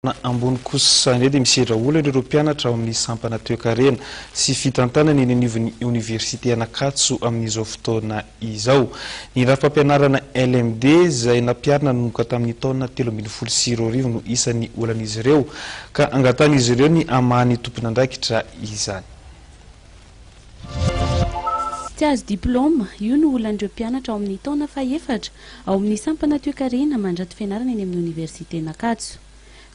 Toerana ambony kosa indray dia misedra olana ireo mpianatra ao amin'ny sampana toekarena sy fitantanana eny anivon'ny oniversite Anakatso amin'izao fotoana izao. Ny rafi-pampianarana LMD izay nampiharina nanomboka tamin'ny taona telo ambin'ny folo sy roa arivo no isan'ny olan'izy ireo ka angatahan'izy ireo ny hamaha ny tompon'andraikitra izany. Tsy azo diplaoma, io no olan'ireo mpianatra ao amin'ny taona fahefatra ao amin'ny sampana toekarena mandrato fianarana eny amin'ny oniversiten'Ankatso.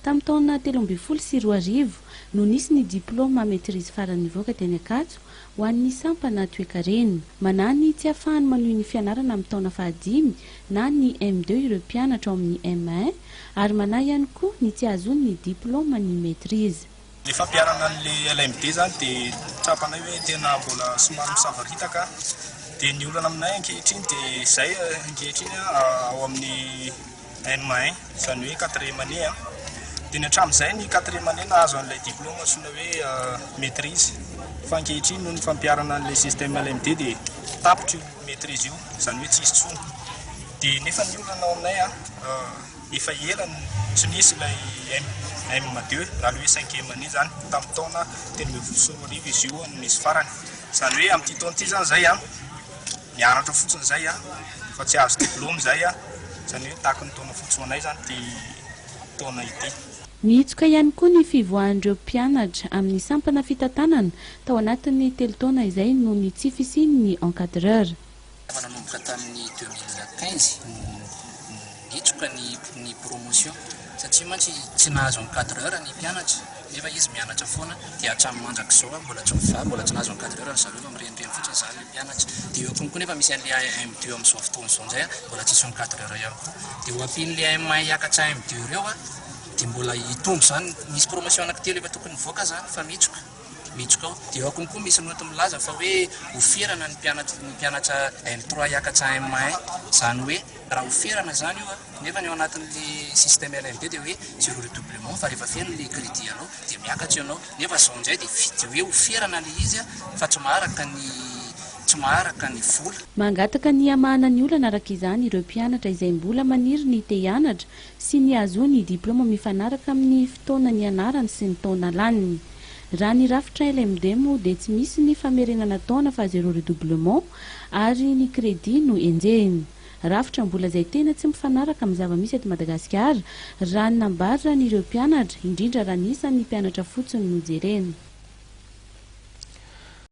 Tamin'ny taona telo ambin'ny folo sy roa arivo no nisy ny diplaoma maîtrise farany nivoaka teny Ankatso ho an'ny sampana toekarena. Manahy ny tsy hahafahany manohy ny fianarana amin'ny taona fahadimy na ny M2 ireo mpianatra ao amin'ny M1 ary manahy ihany koa ny tsy hahazoany ny diplaoma ny maîtrise. Ny fampiharana an'ilay LMD zany dia tsapanay hoe tena mbola somary misavaritaka dia ny olana aminay ankehitriny dia izay ankehitriny ao amin'ny M1 izany hoe quatrième année a dia ny hatramin'izay ny quatrième année nahazo an'ilay diplôme antsoina hoe maitrise fa ankehitriny noho ny fampiharana an'ilay système LMD dia tapitra io maitrise io izany hoe tsy hisy intsony dia nefa ny olana ao aminay a Efa ela no tsy nisy ilay MM deux, raha ny hoe cinquième année izany, tamin'ny taona telo ambin'ny folo sy roa arivo izy io no nisy farany. Izany hoe amin'ity taona ity izany izahay mianatra fotsiny izay fa tsy hahazo diplaoma izahay, izany hoe tahaky ny taona fotsy ho anay izany ity taona ity. Nihitsoka ihany koa ny fivoahan'ireo mpianatra amin'ny sampana fitantanana tao anatin'ny telo taona izay noho ny tsy fisian'ny encadreur. Efa nanomboka tamin'ny deux mille quinze no nitroka ny promotion satria mantsy tsy nahazo encadreur ny mpianatra nefa izy mianatra foana dia hatramin'ny mandrak'izao ary mbola tsy mivaha, mbola tsy nahazo encadreur ry zareo fa mirenireny fotsiny izany ny mpianatra. Dia eo konko nefa misy an'ilay AMDU amin'izao fotoana izao indray mbola tsisy encadreur ihany koa. Dia ho ampian'ilay AMA hiakatra AMDU ireo dia mbola hitombo izany, misy promotion anankitelo efa tokony hivoaka izany fa mitroka. Mitsoka ao. Eo akony koa misy note milaza fa hoe ho ferana ny mpianatr ny mpianatra L trois hiakatra M un, izany hoe raha ho ferana izany io a, nefa ny ao anatin'ilay système LMD dia hoe zéro redoublement fa rehefa feno ilay crédit anao dia miakatra ianao, nefa izao indray dia vide hoe ho ferana ilay izy a fa tsy maharaka ny tsy maharaka ny vola. Mangataka ny hamahana ny olana araka izany ireo mpianatra izay mbola maniry ny te hianatra sy ny ahazoany diplaoma mifanaraka amin'ny fotoana nianarany sy ny taona laniny. Raha ny rafitra LMD moa dia tsy misy ny famerenana taona fa zéro redoublement ary ny crédit no enjehina. Rafitra mbola izay tena tsy mifanaraka amin'ny zava-misy eto Madagasikara raha ny nambaran'ireo mpianatra, indrindra raha ny isan'ny mpianatra fotsiny no jerena.